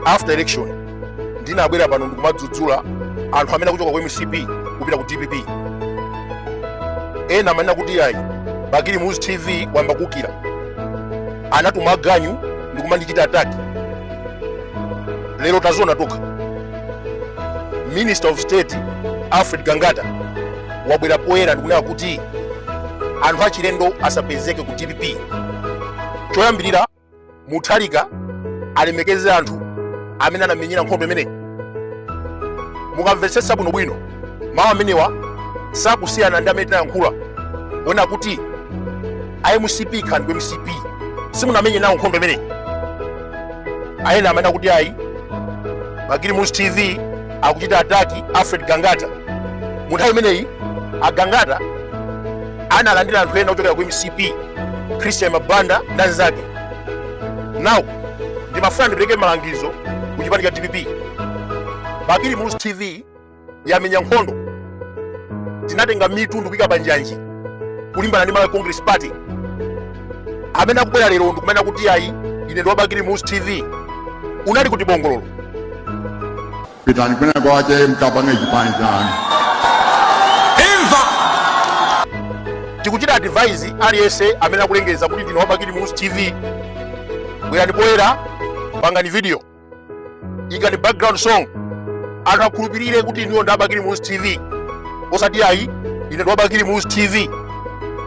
after election ndinabwera pano ndikumadzudzula anthu amene akuchoka ku mcp kupita ku dpp ena amanena kuti ayi bakili muluzi tv wayamba kukira anatumwa aganyu ndikumandichita attack lero taziona tokha minister of state alfred gangata wabwera poyera ndikunena kuti anthu achilendo asapezeke ku dpp choyambirira mutharika alemekeze anthu amene anamenyera nkhondo imeneyi mukamvetsetsa bwinobwino mawu amenewa sakusiyana ndi amene tinayankhula onena kuti a mcp khalani ku mcp simunamenye nawo nkhondo imeneyi ena amanena kuti ayi bakili muluzi tv akuchita attack alfred gangata mu nthawi imeneyi agangata analandira anthu ena ochokera ku mcp christian mabanda ndi anzake now ndimafuna ndipereke malangizo ku chipani cha dpp bakili muluzi tv yamenya nkhondo tinatenga mitu ndikuyika panjanji kulimbana ndi malawi congress party amene akubwera lero ndikumanena kuti ayi ine ndi wabakili muluzi tv unali kuti bongololo pitani kwina kwake mkapange chipani chanu tikuchita advise aliyense amene akulengeza kuti ndine wabakili muluzi tv bwerani poyera pangani video ikani background song anthu akhulupirire kuti inuyo ndi abakili muluzi tv osati ayi ine ndi wabakili muluzi tv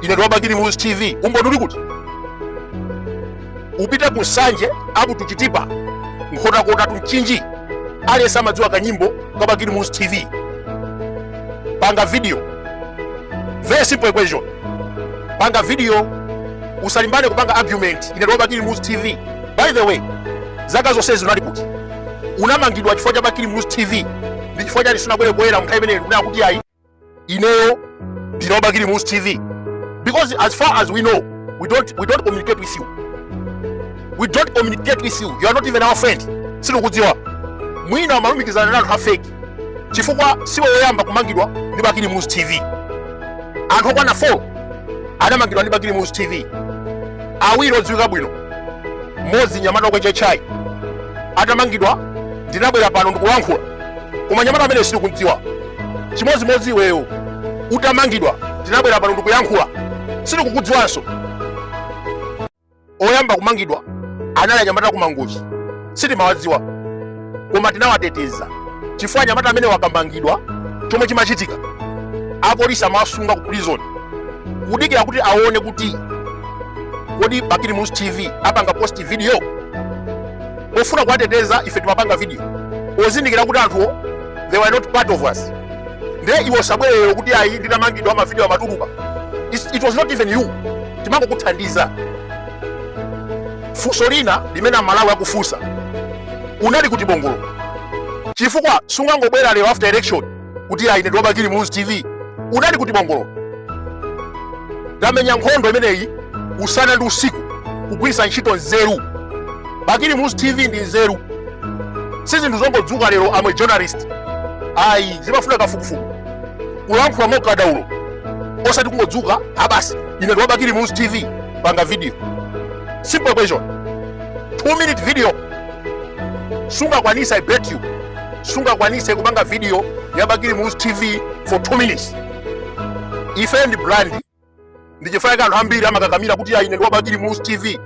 ine ndi wabakili muluzi tv umboni uli kuti upite ku nsanje up to chitipa nkhotakota to mchinji aliyense amadziwa kanyimbo kabakili muluzi tv panga video very simple equation panga video usalimbane kupanga argument ine ndi wa bakili muluzi tv by the way zaka zonsezi unali kuti unamangidwa chifukwa cha bakili muluzi tv ndi chifukwa chani sunabwere poyera mnthawi imeneyo kunena kuti ayi ineyo ndine wa bakili muluzi tv because as far as we know we don't, we don't communicate with you we don't communicate with you you are not even our friend sitikudziwa mwina umalumikizana ndi anthu afake chifukwa siwe woyamba kumangidwa ndi bakili muluzi tv anthu okwana 4 adamangidwa ndi bakili muluzi tv awiri odziwika bwino mmodzi mnyamata wa kwa chechai atamangidwa ndinabwera pano ndikuyankhula koma mnyamata amene sindikumdziwa chimodzimodzi iweyo utamangidwa ndinabwera pano ndikuyankhula sindikukudziwanso Oyamba kumangidwa anali anyamata aku Mangochi, sitimawadziwa koma tinawateteza chifukwa anyamata amene wakamangidwa, chomwe chimachitika apolisi amawasunga ku prison kudikira kuti aone kuti kodi Bakili Muluzi TV apanga post video pofuna kuwateteza. Ife timapanga video pozindikira kuti anthuwo they were not part of us. ndiye iwe usabwere kuti ayi ndinamangidwa amavidiyo amatuluka it was not even you timangokuthandiza funso lina limene amalawi akufunsa unali kuti bongolo chifukwa sungangobwera lero after election kuti ayi ine ndi wa bakili muluzi tv unali kuti bongolo tamenya nkhondo imeneyi usana ndi usiku kugwiritsa ntchito nzeru bakili muluzi tv ndi nzeru si zinthu zongodzuka lero amwene journalist ayi zimafuna kafukufuku kulankhula mokadaulo osati kungodzuka ah basi ine ndi wa bakili muluzi tv panga video simple question 2 minute video sungakwanitse i bet you sungakwanise kupanga video ya bakili muluzi tv for 2 minutes ife ndi brand ndi chifukwa chake anthu ambiri amakakamira kuti ayi ine ndi wa bakili muluzi tv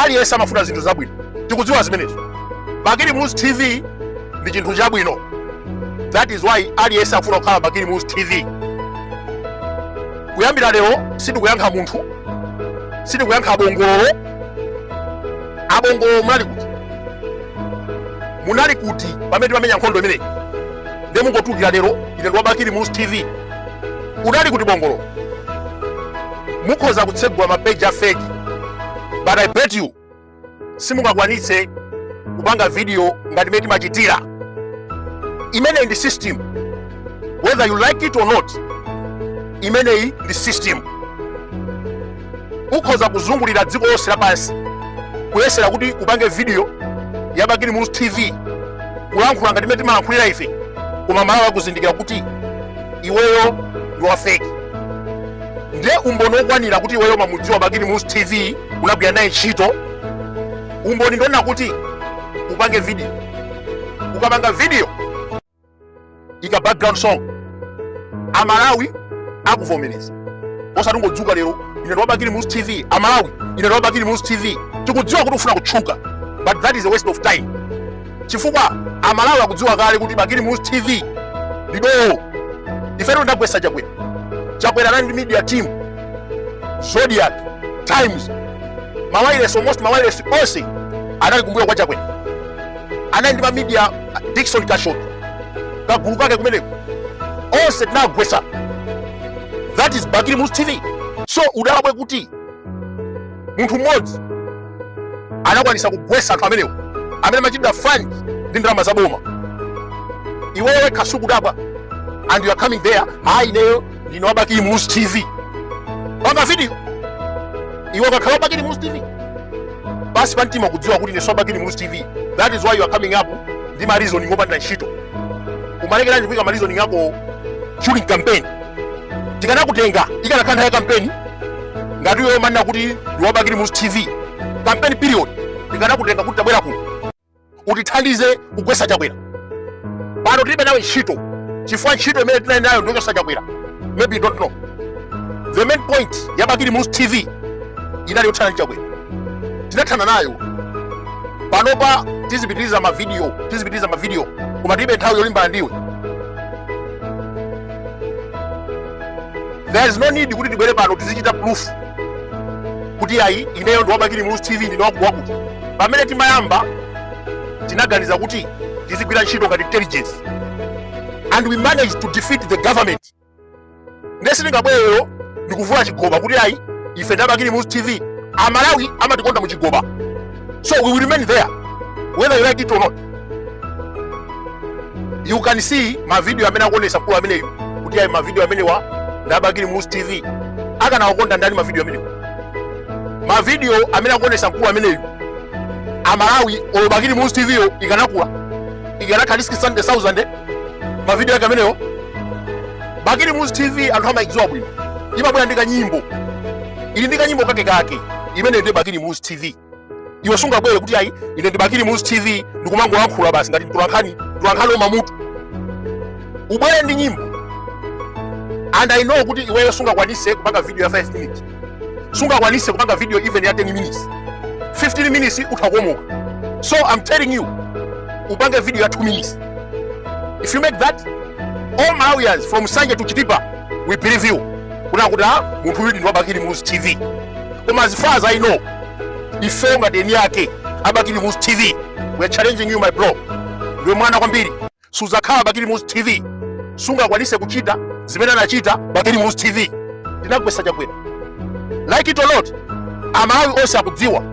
aliyense amafuna zinthu zabwino tikudziwa zimenezo bakili muluzi tv ndi chinthu chabwino that is why aliyense akufuna kukhala bakili muluzi tv kuyambira lero sitikuyankha munthu sitikuyankha abongololo abongololo munali kuti munali kuti pamene timamenya nkhondo imeneyi nde mungotulukira lero ine ndi wa bakili muluzi tv udali kuti bongolo mukhoza kutsegula mapeji a fake but i bet you simungakwanitse kupanga video ngati mmene timachitira imeneyi ndi system whether you like it or not imeneyi ndi system ukhoza kuzungulira dziko lonse lapansi kuyesera kuti upange video ya bakili muluzi tv kulankhula ngati mmene timalankhulira ife koma amalawi akuzindikira kuti iweyo ndi wafeki ndiye umboni wokwanira kuti iweyo umamudziwa bakili muluzi tv unagwira naye ntchito umboni ndi wonena kuti upange video ukapanga video ika background song amalawi akuvomereza osati ungodzuka lero ine ndi wa bakili muluzi tv amalawi ine ndi wa bakili muluzi tv tikudziwa kuti ufuna kutchuka but that is a waste of time chifukwa amalawi akudziwa kale kuti bakili muluzi tv lidowo ifetu tidagwetsa chakwera chakwera anali ndi media team zodiac times mawailesi almost mawailesi onse anali kumbuyo kwa chakwera anali ndi mamidia dikson kashot kagulu kake kumeneko onse tinagwesa that is bakili muluzi tv so udabwe kuti munthu mmodzi anakwanisa kugwesa anthu amenewo amene amachitira fund ndi ndalama za boma iwewe kaya sukudabwa and you are coming there hayi ineyo ndine wabakili muluzi tv panga video iwe ukakhala wabakili muluzi tv pansi pamtima kudziwa kuti ndinenso wabakili muluzi tv that is why you are coming up ndi ma reasoning opanda ntchito umalekeranji kuika ma reasoning ako during campaign tikanakutenga ikanakhala nthawi ya campaign ngati iwe umanena kuti ndiwabakili muluzi tv campaign period tikanakutenga kuti tabwera kuno utithandize kugwetsa chakwera pano tilibe nawe ntchito chifukwa ntchito imene tinali nayo ndiyochotsa chakwera maybe you don't know the main point ya bakili muluzi tv inali yothana ndi chakwera tinathana nayo panopa tizipitiriza mavidiyo koma tilibe nthawi yolimbana ndiwe there is no need kuti tibwere pano tizichita proof kuti ayi ineyo ndiwabakili muluzi tv ndine wakuti wakuti pamene timayamba tinaganiza kuti tizigwira ntchito ngati intelligence and we managed to defeat the government ndiye sitingabwere ndikuvula chigoba kuti ayi ife ndabakili muluzi tv amalawi amatikonda mu chigoba so we will remain there whether you like it or not you can see mavidiyo amene akuonesa mkulu ameneyu kuti ayi mavidiyo amenewa ndabakili muluzi tv akanawakonda ndani mavidiyo amenewa mavidiyo amene akuonesa mkulu ameneyu amalawi olo bakili muluzi tv yo ikanakula ikanakhala 600,000 mavidiyo ake amenewo bakili muluzi tv anthu amayidziwa bwino imabwera ndi kanyimbo ili ndi kanyimbo kake kake imene ndi bakili muluzi tv iwe sungabwere kuti ayi ine ndibakili muluzi tv ndikumangolankhula basi ngati tulankhani tammutu ubwere ndi nyimbo and i know kuti iweyo sungakwanise kupanga video ya 5 minutes sungakwanise kupanga video even ya 10 minutes 15 minutes utha kukomoka so i'm telling you upange video ya 2 minutes if you make that all malawians from nsanje to chitipa will believe you kunena kuti a munthu uyudi ndi wabakili muluzi tv koma as far as i know ifeyo ngati eni ake abakili muluzi tv we are challenging you my bro ndiwe mwana kwambiri suzakhala bakili muluzi tv sungakwanise kuchita zimene anachita bakili muluzi tv tinagwetsa chakwera like it or not amalawi onse akudziwa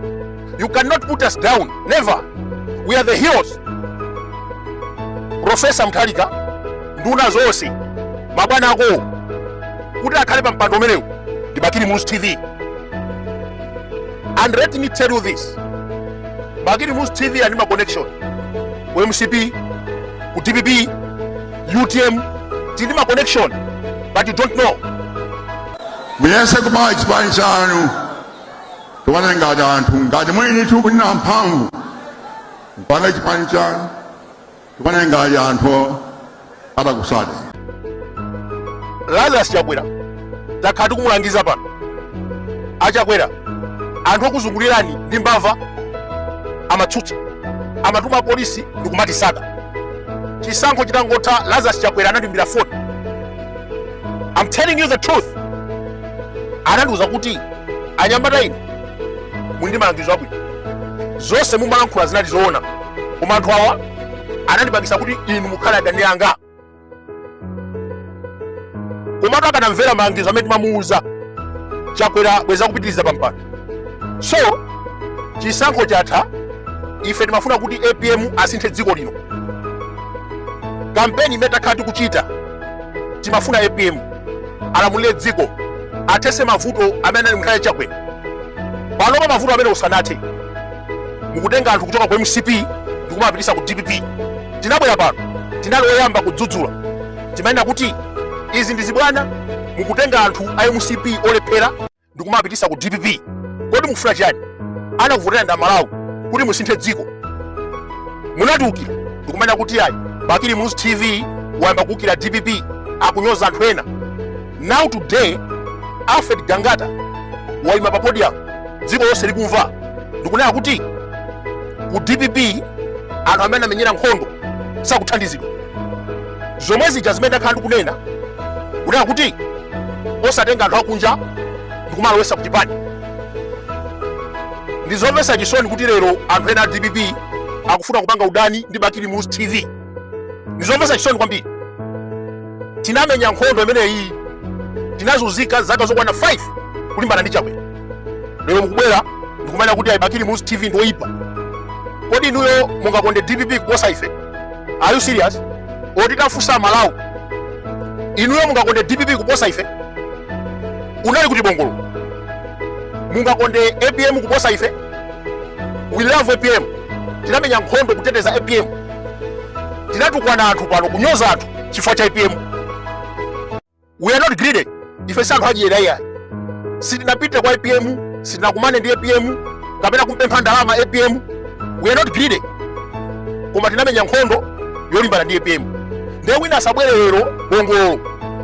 you cannot put us down never we are the heroes profesa mutharika nduna zonse mabwana ako kuti akhale pa mpando umenewu ndi bakili muluzi tv and let me tell you this bakili muluzi tv ili ndi ma connection ku mcp ku dpp utm tili ndi ma connection but you don't know muyese kupanga chipani chanu tione ngati anthu ngati muli ndi mphamvu mupange chipani chanu tione ngati anthu atakutsate lazarus chakwera takhala tikumulangiza pano achakwera anthu okuzungulirani ndi mbava amatsutsa amatuma apolisi ndikumatisaka chisankho chitangotha lazarus chakwera anandiimbira foni i'm telling you the truth anandiuza kuti anyamata inu muli ndi malangizo abwino zonse mumalankhula zinali zoona koma anthu awa anandipangisa kuti inu mukhale adani anga komatu akanamvera malangizo amene timamuuza chakwera bwenzi akupitiriza pampando so chisankho chatha ife timafuna kuti apm asinthe dziko lino kampeni imene takhala tikuchita timafuna apm alamulire dziko athese mavuto amene anali mu nthawi ya chakwera panopa mavuto amene asanathe mukutenga anthu kuchoka ku mcp ndikumapitisa ku dpp tinabwera pano tinali oyamba kudzudzula timanena kuti izi ndi zibwana mukutenga anthu a mcp olephera ndikumapitisa ku dpp kodi mukufuna chiyani anakuvotera ndi amalawi kuti musinthe dziko munatiukira ndikumanena kuti ayi bakili muluzi tv wayamba kuukira dpp akunyoza anthu ena now today alfred gangata waima pa podium dziko lonse likumva ndikunena kuti ku dpp anthu amene anamenyera nkhondo sakuthandizidwa zomwe zija zimene ndakhala ndikunena kunena kuti osatenga anthu akunja ndikumalowesa ku chipani ndizomvetsa chisoni kuti lero anthu ena a dpp akufuna kupanga udani ndi bakili muluzi tv ndizomvetsa chisoni kwambiri tinamenya nkhondo imeneyi tinazunzika zaka zokwana 5 kulimbana ndi chakwera lero mukubwera ndikumanena kuti ayi bakili muluzi tv ndi oyipa kodi inuyo mungakonde dpp kuposa ife are you serious oti tafunsa amalawi inuyo mungakonde dpp kuposa ife unali kuti bongolo mungakonde apm kuposa ife we love apm tinamenya nkhondo kuteteza apm tinatukwana anthu pano kunyoza anthu chifukwa cha apm we are not greedy ife si anthu adyera iyayi sitinapite kwa apm sitinakumane ndi apm kapena kumpempha ndalama apm we are not greedy koma tinamenya nkhondo yolimbana ndi apm ndiye wina asabwere lero bongololo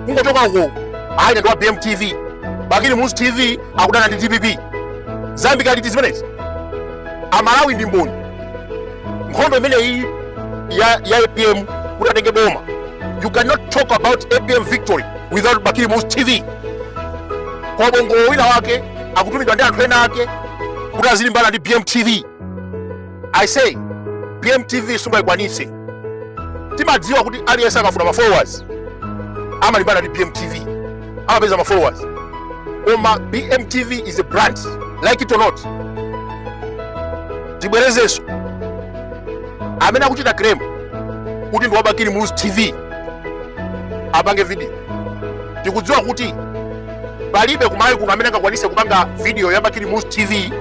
kungochoka uko ayi ndi wa bm tv bakili muluzi tv akudana ndi dpp zayambika liti zimenezi amalawi ndi mboni nkhondo imeneyi ya, ya apm kuti atenge boma you cannot talk about apm victory without bakili muluzi tv kabongololo wina wake akutumidwa ndi anthu ena ake kuti azilimbana ndi bmtv i say bmtv sungayikwanitse timadziwa kuti aliyense akafuna ma followers amalimbana ndi bmtv amapeza ma followers koma bmtv is a brand like it or not tibwerezenso amene akuchita claim kuti ndi wabakili muluzi tv apange video tikudziwa kuti palibe kumalawi kuno amene angakwanise kupanga video ya bakili muluzi tv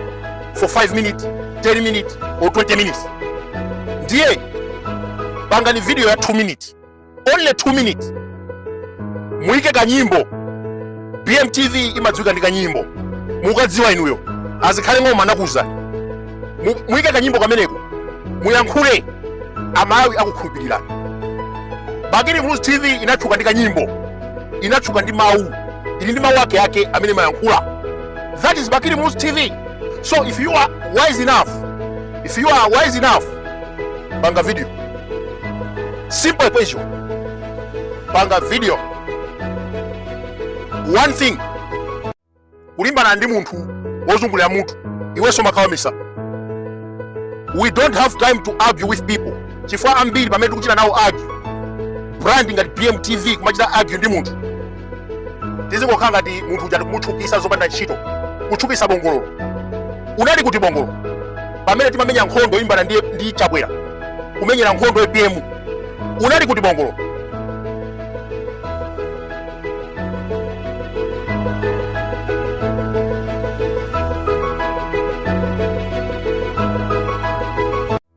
for 5 minutes 10 minutes or 20 minutes ndiye pangani video ya 2 minutes only 2 minutes muike kanyimbo bmtv imadziwika ndi kanyimbo mukaidziwa inuyo azikhale ng'oma nakuza Mu- muike kanyimbo kameneko muyankhule amalawi akukhulupirirani bakili muluzi tv inatchuka ndi kanyimbo inatchuka ndi mawu ili ndi mawu ake ake amene amayankhula That is Bakili Muluzi TV. So if you are wise enough, if you are wise enough, panga video. Simple equation. Panga video. One thing. Kulimbana ndi munthu wozungulira mutu iwenso umakhala wamisala. We don't have time to argue with people. Chifukwa ambiri pamene tikuchita nawo argue. Brand ngati BMTV kumachita argue ndi munthu. tizikukhala ngati munthu uja tikumutchukisa zopanda ntchito kutchukisa bongololo unali kuti bongololo pamene timamenya nkhondo yolimbana ndi, ndi chakwera kumenyera nkhondo apm unali kuti bongololo